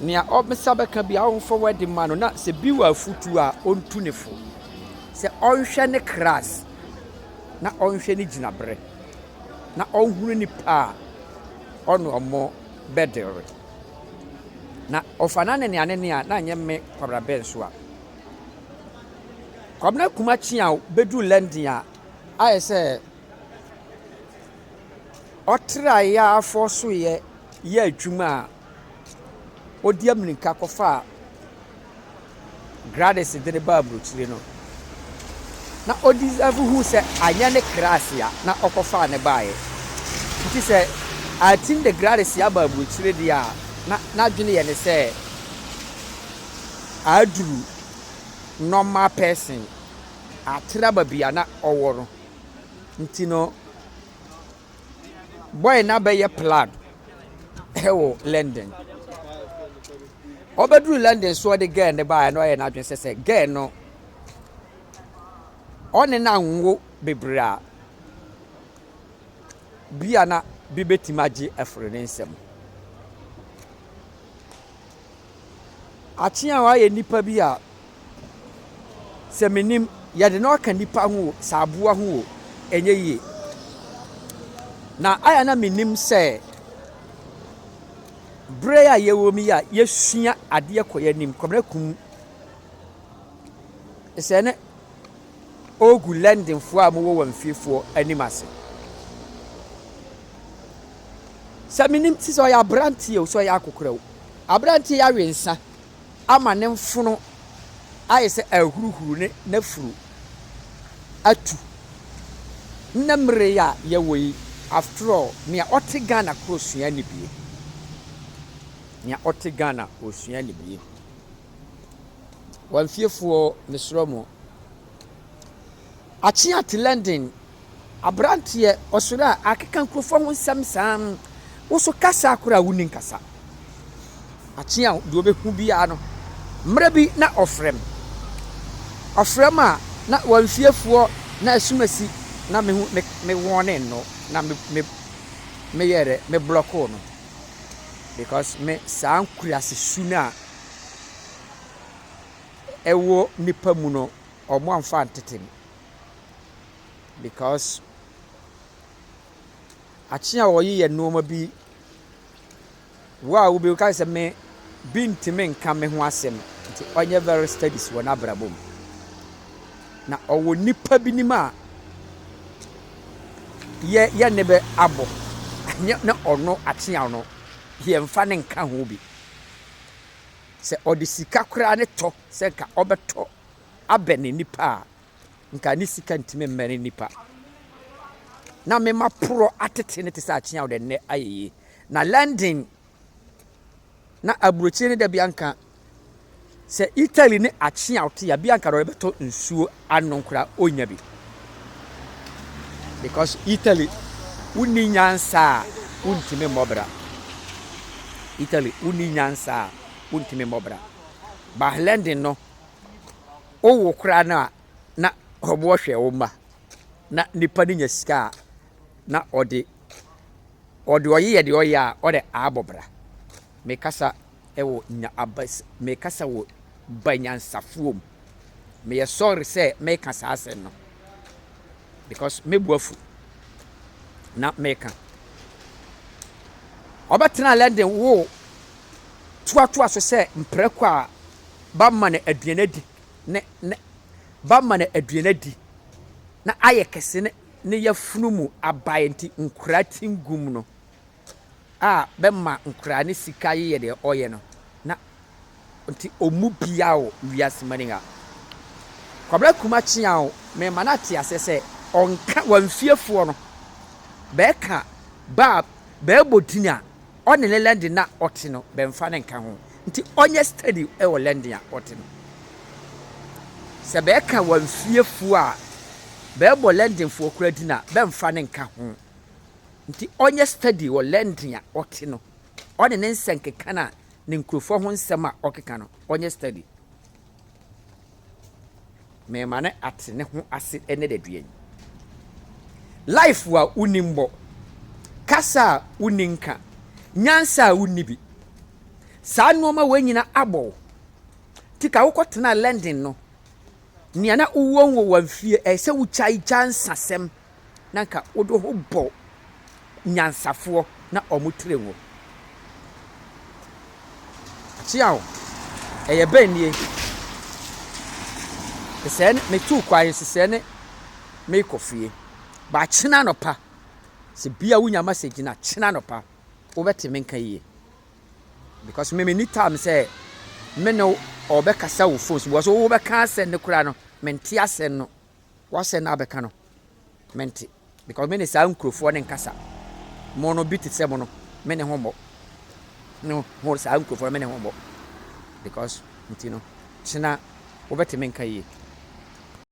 Nea ɔbsa bɛka biara ɔmfa word mma no na sɛ bi wɔ afotu a ɔntu ne fo. Sɛ ɔnhwɛ ne class na ɔnhwɛ ne gyinabrɛ na ɔnhunu nipa a ɔne ɔmo bɛ deal. Na ɔfa no anenea anenea na nyɛ me Kwabena Benso a. Kwabena Kuma Kyeaw bɛduru London a ayɛ sɛ. ɔtraa yɛn afɔɔ so yɛ yɛ adwuma a ɔdi ammirika kɔfaa Gradis de no baa aburokyire no, na ɔdi sɛfo hu sɛ anyɛ ne krasia na ɔkɔfaa ne baeɛ. Nti sɛ Artin de Gradis aba aburokyire deɛ a, na n'adwene yɛ ne sɛ aduru normal person, atra baabi a na ɔwɔ no. Ntsi no, bɔe no abɛyɛ plug wɔ London. Ɔbɛdur London so ɔdze girl no bae no, ɔyɛɛ n'adwen sɛ sɛ girl no ɔnye no annwo beberee a, bi a na bi betsim agye efor ne nsamu. Akyeaw ayɛ nnipa bi a sɛ minim yɛde no aka nnipa ho o, sɛ aboa ho o, ɛnyɛ yie. Na ayɛ na minim sɛ bere a yɛwɔ mu yi a yɛsua adeɛ kɔ yɛn anim, Kwabena Kum sɛ ne ɔregu Londonfoɔ a wɔwɔ wɔn fiefoɔ anim ase. Sɛ menim te sɛ ɔyɛ aberanteɛ o, sɛ ɔyɛ akokorɛ o, aberanteɛ yi awe nsa ama ne mfono ayɛ sɛ ahuruhuru ne n'afuru atu. Nnɛ mmere a yɛwɔ yi, after all, nea ɔte Ghana koro sua anibie. Nea ɔte Ghana ɔsua anibie. Wɔn fiefoɔ mesrɛ mo. Akyea te London. Aberanteɛ ɔsɔre a akeka nkurɔfoɔ ho nsɛm saa no, wo so kasa koraa wonni nkasa. Akyea deɛ ɔbɛhu biara no, mmerɛ bi na ɔfrɛ me. Ɔfrɛ me a, na wɔn fiefoɔ na asum asi na me me me wɔne no na me me meyɛ dɛ me blɔkoo no because me saa nkuraase su no a ɛwɔ nnipa mu no, wɔamfa antete no because akye a wɔyeyɛ nneɛma bi, wo a wobɛhu ka sɛ me bi ntumi nka me ho asɛm nti ɔnyɛ very studies wɔ n'abrabɔ mu. Na ɔwɔ nnipa bi nim a yɛ yɛ ne bɛ abɔ anyɛ na ɔno akye a ɔno yɛmfa ne nka ho bi. Sɛ ɔde sika koraa ne tɔ sɛ nka ɔbɛtɔ abɛn nnipa a, nka ne sika ntumi mmɛn nnipa. Na mema porɔ atete no te sɛ akyea ɔde nnɛ ayɛ yie. Na London na aburokyire no da bi anka sɛ Italy ne akyea ɔte a bi anka ɔde bɛtɔ nsuo Ano kora ɔnnya bi because Italy wonni nyansa a wontumi mmɔ bra. Italy wonni nyansa a wontumi mmɔ bra. Bahlenden no wowo koraa no a na wɔwɔ hwɛ wo mma na nipa no nya sika a na ɔde ɔde ɔyeyɛ deɛ ɔyɛ a ɔde abɔ bra. Mekasa wɔ nya abas mekasa wɔ banyansafoɔ mu. Meyɛ sorry sɛ meka saa asɛm no because me bo afu na meka. Ɔbɛtena London wo toatoa so sɛ mprako a ba ma no aduane adi ne ne ba ma no aduane adi na ayɛ kɛse ne ne yafunu mu abae nti nkora tingum no. a bɛma nkoraa ne sika yeyɛ deɛ ɔyɛ no na nti ɔmu biaa wɔ wiase mani ha kwabra kuma kyea o me ma no ate asɛ sɛ ɔnka wa nfie foɔ no bɛɛ ka ba a bɛɛ bɔ din a ɔne ne lɛndi na ɔte no bɛ nfa ne nka ho nti ɔnyɛ study wɔ lɛndi a ɔte no sɛ bɛɛ ka wa nfie foɔ a bɛɛ bɔ lɛndi foɔ kura din a bɛ nfa ne nka ho Nti ɔnyɛ study wɔ lending a ɔte no ɔne ne nsɛnkeka no a ne nkurɔfoɔ ho nsɛm a ɔkeka no ɔnyɛ study. Mema no ate ne ho ase ɛnɛ dadua yi. Life a wonni mmɔ, kasa a wonni nka, nyansa a wonni bi. Saa nnoɔma wei nyina abɔ wo. Nti ka wokɔtenaa lending no nea na wowɔ nwowɔ mfie ɛyɛ sɛ wokyae gya nsasɛm na nka wode ho bɔ nyansafoɔ na wɔn tire ngo. Akyea o, ɛyɛ bɛn nie? Sesɛɛ ne metuu kwan yi, sesɛɛ ne merekɔ fie. Ba kyena anɔpa, sɛ bia wonya message na kyena anɔpa, wobɛte me nka yie. Because me menni time sɛ me ne ɔbɛkasa wo phone so, because wobɛka asɛm no koraa no, mente asɛm no. W'asɛm na abɛka no mente because me ne saa nkurofoɔ ne nkasa mo no bi te sɛ mo no me ne ho mmɔ no ho saa nkurofoɔ no me ne ho mmɔ because nti no kyena wobɛte me nka yie.